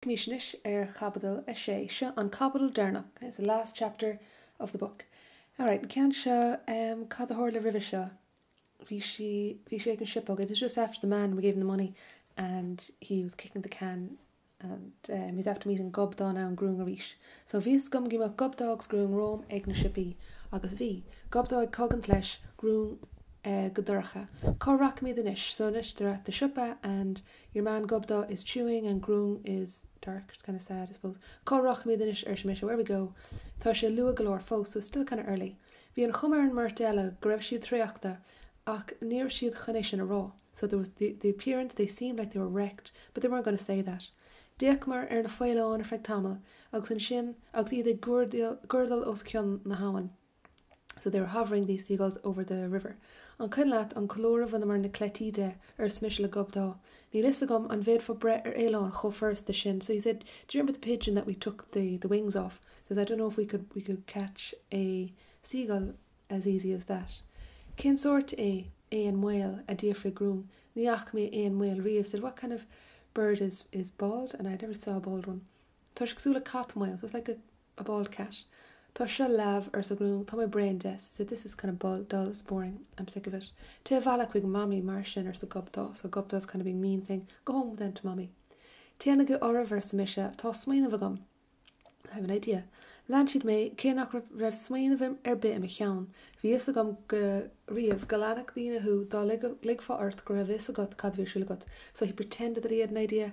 Bímis anois ar Chaibidil 6. Seo an caibidil deireanach, this is the last chapter of the book. Alright, an ceann seo, em, cad a tharla roimhe seo? Bhí sí, bhí sé ag an siopa, okay, this is just after the man gave him the money and he was kicking the can and, em, he's after meeting Gobdá and Grúng arís. So, bhí fhios agam go mbeadh Gobdá agus Grúng romham ag na siopaí agus bhí. Gobdá ag cogaint leis, Grúng, eh, go dorcha. Cá rachaimid anois? So, anois they're at the siopa and. Your man Gobdá is chewing and Grúng is dark, it's kind of sad, I suppose. Cá rachaimid anois, arsa mise, where we go? Tá sé luath go leor fós, so it's still kind of early. Bhí an chuma ar an mbeirt eile go raibh siad traochta, ach ní raibh siad chun é sin a rá. So there was the appearance they seemed like they were wrecked, but they weren't going to say that. D'fhéachamar ar na faoileáin ar feadh tamaill agus ansin agus iad ag guairdeall os cionn na habhann. so they were hovering these seagulls over the river an cuimhin leat an colúr a bhaineamar na cleití de arsa mise le Gobdá níl fhios agam an bhféadfá breith ar fhaoileán chomh furasta sin so he said do you remember the pigeon that we took the the wings off says I don't know if we could we could catch a seagull as easy as that cén sórt é éan maol a d'fhiafraigh Grúng ní fhaca mé éan maol riamh said what kind of bird is is bald and I never saw a bald one tá sé cosúil le cat maol so it's like a a bald cat. Tá seo leamh, arsa Grúng. Tá mé bréan de, she said, this is kind of bald, dull, it's boring, I'm sick of it. Téigh abhaile chuig Mamaí mar sin, arsa Gobdá, so Gobdá is kind of being mean, saying, Go home then to Mommy. Téanaigí oraibh, arsa mise, tá smaoineamh agam. I have an idea. Lean siad mé, cé nach raibh smaoineamh ar bith i mo cheann. Bhí fhios agam go riamh go leanfadh daoine thú dá ligfeá ort go raibh fhios agat cad a bhí siúl agat, so he pretended that he had an idea,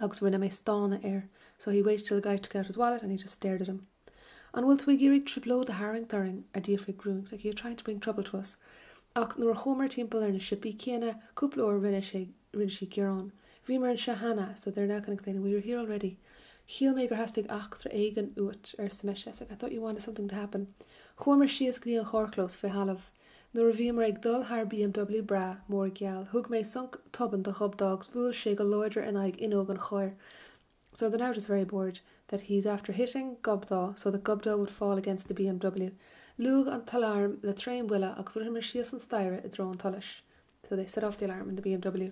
agus rinne mé stánadh air so he waited till the guy took out his wallet and he just stared at him. An bhfuil tú ag iarraidh trioblóid a tharraingt orainn? a d'fhiafraigh Grúng, so like you're trying to bring trouble to us. Ach nuair a chuamar timpeall ar na siopaí céanna cúpla uair rinne sé rinne sí gearán. Bhíomar anseo cheana so they're now kind of complaining we were here already. Shíl mé gur theastaigh eachtra éigin uait, arsa mise, so I thought you wanted something to happen. Chuamar síos go dtí an charrchlós fé thalamh. Nuair a bhíomar ag dul thar BMW breá, mór, geal, thug mé sonc tobann do Ghobdá agus bhuail sé go láidir in aghaidh fhuinneog an chairr. So they're now just very bored that he's after hitting Gobdá so that Gobdá would fall against the BMW. Liúigh an t-aláram le tréanbhuille agus ritheamar síos an staighre i dtreo an tsolais. so they set off the alarm in the BMW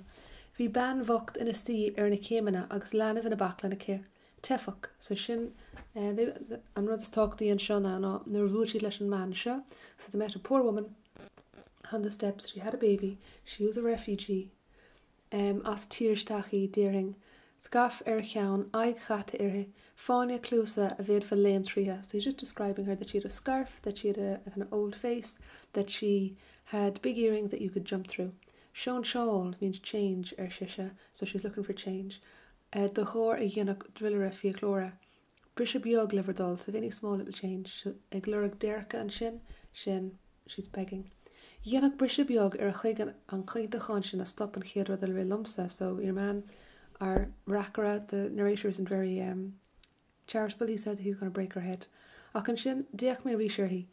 bhí bean bhocht ina suí ar na céimeanna agus leanbh ina baclainn aici. teifeach, so sin eh, maybe an rud is tábhachtaí anseo ná ná nuair a bhuail siad leis an mbean seo, so they met a poor woman on the steps, she had a baby, she was a refugee, em, as tír isteach í, déarfainn, scaif ar a cheann, aghaidh chaite uirthi, fáinne cluasa a bhféadfá léim tríotha, so he's just describing her that she had a scarf, that she had a, a kind of old face, that she had big earrings that you could jump through'. Sóinseáil means change, ar sise, so she's looking for change, de ghlór a dhéanfadh druilire fiaclóra. Briseadh beag le bhur dtoil, so if any small little change, ag lorg déirce ansin, sin, she's begging. Dhéanfadh briseadh beag ar a chloigeann an caointeachán sin a stop an chéad rud a rith liomsa, so your man, our reacaire, the narrator isn't very, um, charitable, he said he's going to break her head. Ach ansin, d'fhéach mé arís uirthi.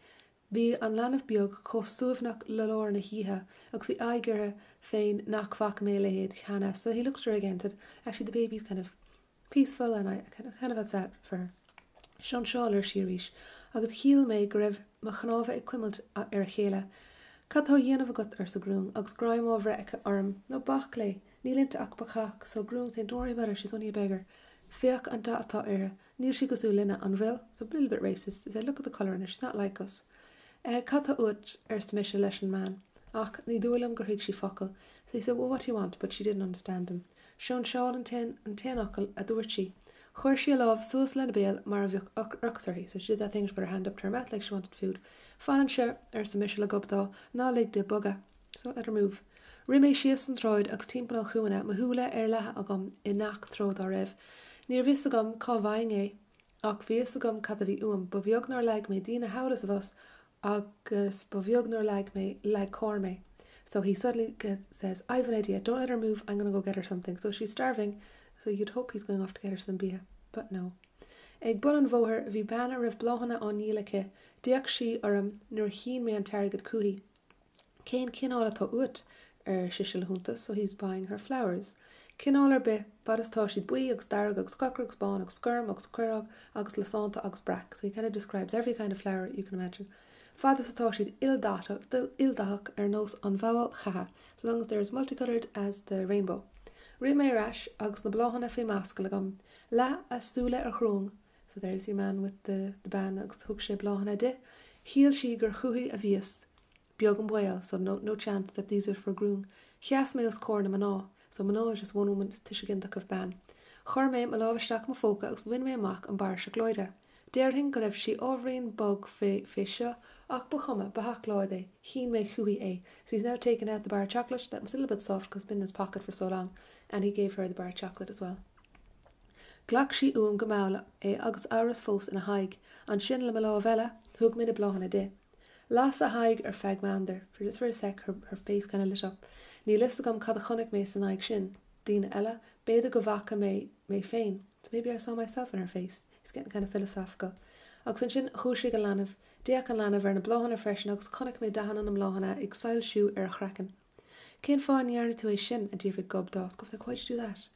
Bhí an leanbh beag chomh suaimhneach le lár na hoíche agus bhí aghaidh uirthi féin nach bhfaca mé a leithéid cheana, so he looked at her again and said, actually the baby's kind of peaceful and I kind of felt sad for her. Sóinseáil ar sí arís agus shíl mé go raibh mo chnámha ag cuimilt ar a chéile. Cad tá á dhéanamh agat? arsa Grún agus greim á bhreith aici orm. Ná bac léi, níl inti ach bacach, so Grún saying, don't worry about her, she's only a beggar. Féach an dath atá uirthi. níl sí cosúil linne, an bhfuil? It's a little bit racist to say look at the colour in her, she's not like us. Eh, cad tá uait? arsa mise leis an mbean. Ach ní dóigh liom gur thuig sí focal. So he said, well, what do you want? But she didn't understand him. Sóinseáil an t-aon, an t-aon fhocal a dúirt sí. Chuir sí a lámh suas lena béal mar a bheadh ocras uirthi. So she did that thing, she put her hand up to her mouth like she wanted food. Fan anseo, arsa mise le Gobdá, ná lig di bogadh. So, don't let her move. Rith mé síos an tsráid agus timpeall an chúinne, mo shúile ar leathadh agam i ngach treo dá raibh. Níorbh fhios agam cá bhfaighinn é, ach bhí fhios agam cad a bhí uaim. Ba bheag nár leag mé daoine thall is abhus agus ba bheag nár leag mé, leag carr mé. So, he suddenly says, I've an idea, don't let her move, I'm gonna go get her something. So, she's starving, so you'd hope he's going off to get her some bia, but no. Ag bun an bhóthair bhí bean a raibh bláthanna á ndíol aici, d'fhéach sí orm nuair a shín mé an t-airgead chúithi. Cén cineál atá uait? ar sise le hiontas, so he's buying her flowers. Cineál ar bith, fad is atá siad buí agus dearg agus corcra agus bán agus gorm agus craorag agus lasánta agus breac, so he kind of describes every kind of flower you can imagine. Fad is atá siad ildathach ar nós an bhogha cheatha, so long as they're as multicoloured as the rainbow. Rith mé ar ais agus na bláthanna faoi m'ascaill agam, leath a súile ar Ghrún So there's your man with the the bean agus thug sé bláthanna di. Shíl sí gur chúithi a bhíos. Beag an baol, so no, no chance that these are for Grún. Sheas mé os comhair na mná. So mná is just one woman, is tuiseal ginideach of bean. Chuir mé mo lámh isteach i mo phóca agus bhain mé amach an barra seacláide. Déarfainn go raibh sí ábhairín bog fé, fé seo, ach ba chuma, ba sheacláid é. Shín mé chúithi é. So he's now taken out the bar of chocolate that was a little bit soft because it's been in his pocket for so long and he gave her the bar of chocolate as well. Ghlac sí uaim go mall é agus amhras fós ina haghaidh. Ansin, le mo lámh eile, thug mé na bláthanna di. Las a haghaidh ar feadh meandair, for just for a sec her her face kind of lit up. Níl fhios agam cad a chonaic mé san aghaidh sin. Daoine eile? B'fhéidir go bhfaca mé mé féin, so maybe I saw myself in her face. It's getting kind of philosophical. Agus ansin dhúisigh an leanbh. D'fhéach an leanbh ar na bláthanna freisin agus chonaic mé dathanna na mbláthanna ag soilsiú ar a chraiceann. Cén fáth a ndearna tú é sin? a d'fhiafraigh Gobdá, so Why did you do that?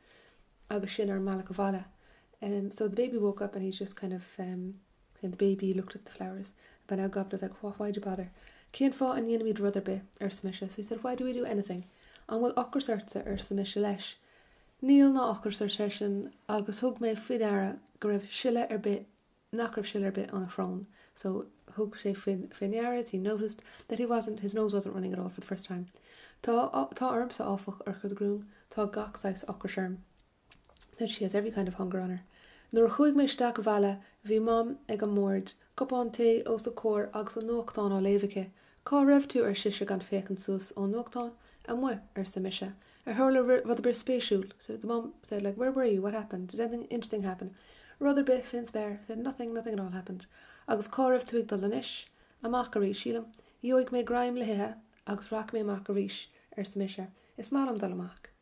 agus sinn ar an mbealach abhaile. So the baby woke up and he's just kind of um, the baby looked at the flowers but now Gobdá's like why, why do you bother? Cén fáth a ndéanaimid rud ar bith? arsa mise. So he said why do we do anything? An bhfuil ocras ortsa? arsa mise leis. Níl ná ocras ar seisean agus thug mé faoi deara go raibh sileadh ar bith nach raibh sileadh ar bith óna shrón so thug sé fé ndeara he noticed that he wasn't his nose wasn't running at all for the first time tá ormsa áfach urchar do gruaim tá gach saghas ocrais orm that she has every kind of hunger on her nuair a chuaigh mé isteach abhaile bhí mam ag an mbord cupán tae os a comhair agus an nuachtán á léamh aici Cá raibh tú, ar sise, gan féachaint suas ón nuachtán? Amuigh, arsa mise, ar tharla rud ar bith spéisiúil? so the mum said like where were you, what happened, did anything interesting happen, rud ar bith fén spéir, said nothing, nothing at all happened. Agus cá raibh tú ag dul anois? Amach arís, sílim. Gheobhaidh mé greim le hithe agus rachaidh mé amach arís, arsa mise, is maith liom dul amach.